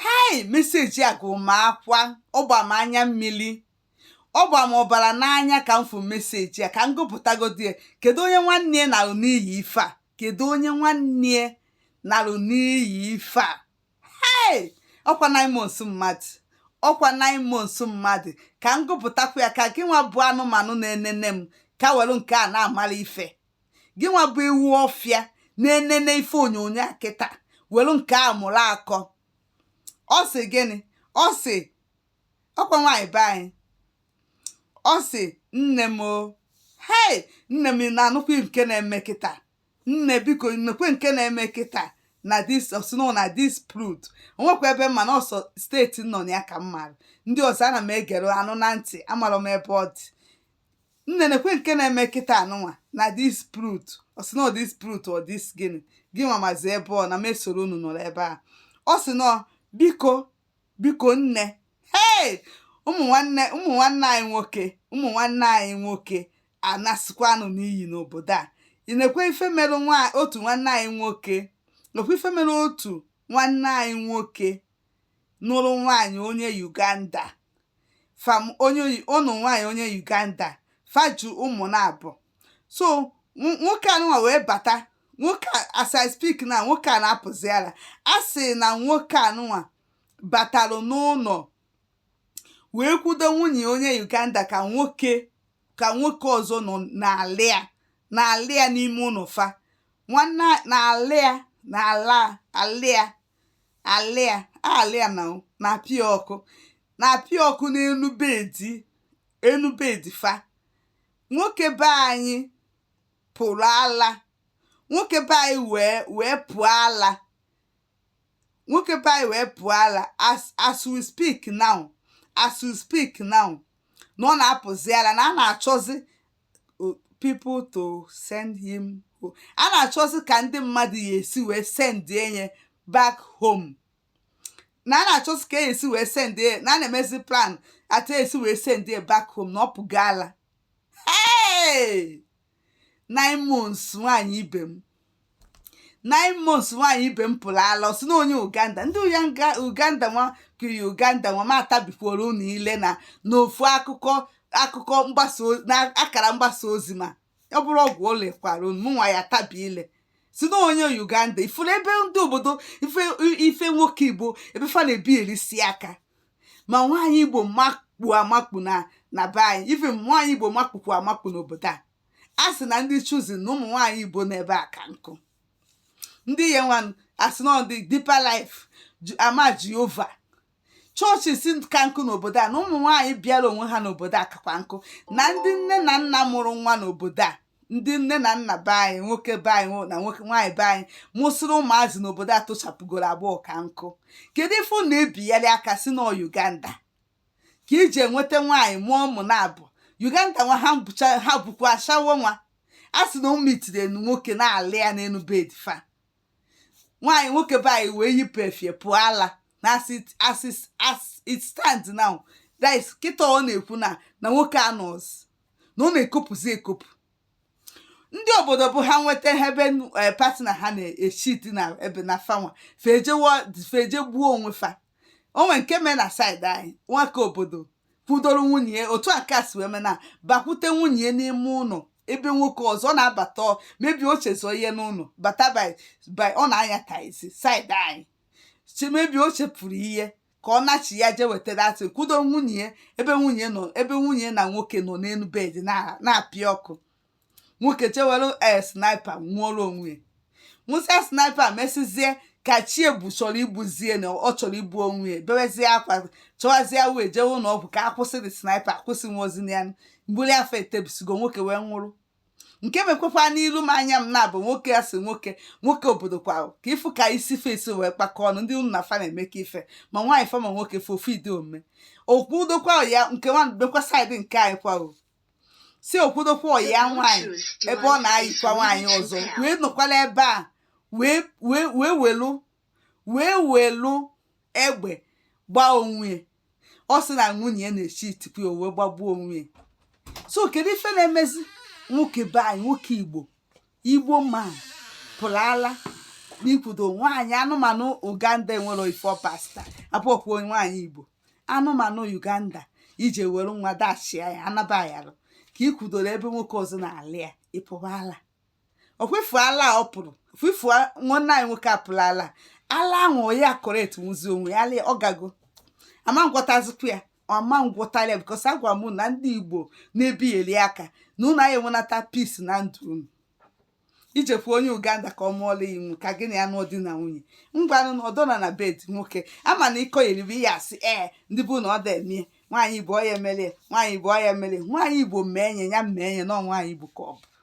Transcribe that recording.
hei meseji a gụrụ m akwa ọ gba m anya mmiri ọ gba m ọbara n'anya ka m fụ meseji a ka m gụpụtagodi ya kedu onye nwanne ya narụ n'iyi ife a kedu onye nwanne ya narụ n'iyi ife a hei ọ kwa nine months mmadụ ọ kwa nine months mmadụ ka m gụpụtakwa ya ka gị nwa bụ anụmanụ na-enene m ka were nke a na-amara ife gị nwa bụ ewu ọfịa na-enene ife onyonyo a kịta welu nke a mụrụ akọ ọ sị gịnị ọ sị ọ kwa nwaanyị be anyị ọ sị nne m o hei nne m ị na-anụkwa nke na-eme kịta nne biko nekwe nke na-eme kịta na dis ọ sị na ọ na dis prut o nwekwa ebe m ma na ọ sọ steeti m nọ na ya ka m maara ndị ọzọ ana m egere anụ na ntị amarọ m ebe ọ dị nne nekwe nke na-eme kịta anụnwa na dis prut ọ sị na ọ dis prut ọ dis gịnị gị nwa mazi ebe ọ na m esoro unu nọrọ ebe a ọ sị na biko biko nne hei ụmụ nwanne ụmụ nwanne anyị nwoke ụmụ nwanne anyị nwoke anasịkwanụ n'iyi n'obodo a nekwe ife mere otu nwanne anyị nwoke nekwe ife mere otu nwanne anyị nwoke nụrụ nwaanyị onye Uganda fam onye ọ nụ nwaanyị onye Uganda fa ji ụmụ naabọ so nwoke anụnwa wee bata nwoke as I speak na nwoke a na-apụzi ala a sị na nwoke anụnwa batalụ n'ụnọ wee kwudo nwunye onye Uganda ka nwoke ka nwoke ọzọ nọ na-ala ya na-ala ya n'ime ụnọ fa nwanne na-ala ya na-ala ala ya ala ya ala ya na na-apịa ọkụ na-apịa ọkụ n'enu bedi enu bedi fa nwoke be anyị pụrụ ala nwoke be anyị wee wee pụọ ala nwoke be anyị wee pụọ ala as as we speak now as we speak now na ọ na-apụzi ala na a na-achọzi people to send him home a na-achọzi ka ndị mmadụ ya-esi wee send enye back home na a na-achọzi ka a ya-esi wee send ya na a na-emezi plan etu a ya-esi wee send ya back home na ọ pụgo ala hey! nine months nwaanyị ibe m nine months nwaanyị ibe m pụrụ ala ọ sị na onye uganda ndị uya nga- uganda nwa kiri uganda nwa ma atabikwuoro unu ile na n'ofu akụkọ akụkọ mgbasa o- na akara mgbasa ozi ma ọ bụrụ ọgwụ o lekwara unu mụnwa ya-atabi ile sị na onye uganda ị fụrụ ebe ndị obodo ife ife nwoke igbo ebe fa na-ebi erisi aka ma nwaanyị igbo makpu amakpu na na be anyị ife nwaanyị igbo makpukwu amakpu n'obodo a a sị na ndị chosen na ụmụ nwaanyị igbo n'ebe a ka nkụ ndị ihe nwa a sị na ndị deeper life ama jehova chọọchị si ka nkụ n'obodo a na ụmụ nwaanyị bịara onwe ha n'obodo a kakwa nkụ na ndị nne na nna mụrụ nwa n'obodo a ndị nne na nna be anyị nwoke be anyị na nwoke nwaanyị be anyị mụsịrị ụmụazị n'obodo a tochapụgoro agbọọ ka nkụ kedu ife na-ebigharị aka sị na ọ uganda ka e ji enweta nwaanyị mụọ ụmụ na-abụ Uganda nwa ha bụcha ha bụkwa ashawo nwa a sị na ụmụ itiri enu nwoke na-alị ya n'elu bed fa nwaanyị nwoke be anyị wee yipụ efe pụọ ala na as it as it as it stand now that is kịta ọ na-ekwu na na nwoke anọzi na ọ na-ekopụzi ekopụ ndị obodo bụ ha nweta ha ebe eh, partner ha na-echeat na ebe na fanwa fa eje gbuo onwe fa o nwe nke mee na side anyị nwoke obodo kwudoro nwunye ya otu a ka o si wee mee nabakwute nwunye ya n'ime ụlọ ebe nwoke ọzọ na-abata maybe o chezọ ihe n'ụlọ bata by ọ na-anya taxi side anyị maybe o chefuru ihe ka ọ nachi ya jee wetara atị kwudo nwunye ya ebe nwunye nọ ebe nwunye na nwoke nọ n'elu bed na- na-apịa ọkụ nwoke jee were ee sniper ṅụọrọ onwe ya ṅụsịa sniper mesịzie ka chi ebu chọrọ igbuzie na ọ chọrọ igbu onwe ya bewezie akwa chọwazie wee jewe ụlọ ọgwụ ka a kwụsị the sniper akwụsị nwozi na ya mgbili afọ etebisigo nwoke wee nwụrụ nke mekwekwa n'iru m anya m nabọ nwoke a sị nwoke nwoke obodo kwa ahụ ka ịfụ ka isi fa si wee kpakọọ ọnụ ndị unu na fa na-emekọ ife ma nwaanyị fa ma nwoke fa ofu ụdị omume o kwudokwa ya nke nwa mekwa side nke anyị kwa ọ sị o kwudokwa ya nwaanyị ebe ọ na-ayikwa nwaanyị ọzọ wee nọkwala ebe a wee wee wee welu wee welu egbe gbaa onwe ya ọ sị na nwunye ya na-echeatikwu ya wee gbagbuo onwe ya so kedu ife na-emezi nwoke be anyị nwoke igbo igbo man pụrụ ala na i kwudo nwaanyị anụmanụ uganda enwere ife ọpasta apụọpụ nwaanyị igbo anụmanụ uganda i jee were nwa dachia ya anaba ayarụ ka ị kwudoro ebe nwoke ọzọ na-alị ya ị pụba ala okwefu ala ọ pụrụ fufu nwanne anyị nwoke apụla ala ala ahụ ya kọrọ etu nwụzi onwe ya ala ọ gago a ma ngwọtazikwu ya ọma ngwọtara ya because agwa m na ndị igbo na-ebigheli aka na unu anyị enwenata peace na ndụ unu i jekwa onye uganda ka ọ mụọla ya inwu ka gị na ya nụọ di na nwunye ngwanụ na ọdọna na bed nwoke ama na ịkọ yeribe ihe asị ee ndị bụ na ọ da eme nwaanyị igbo ọ ya emele nwaanyị igbo ọ ya emele nwaanyị igbo mee nye ya mee nye na nwaanyị igbo ka ọ bụ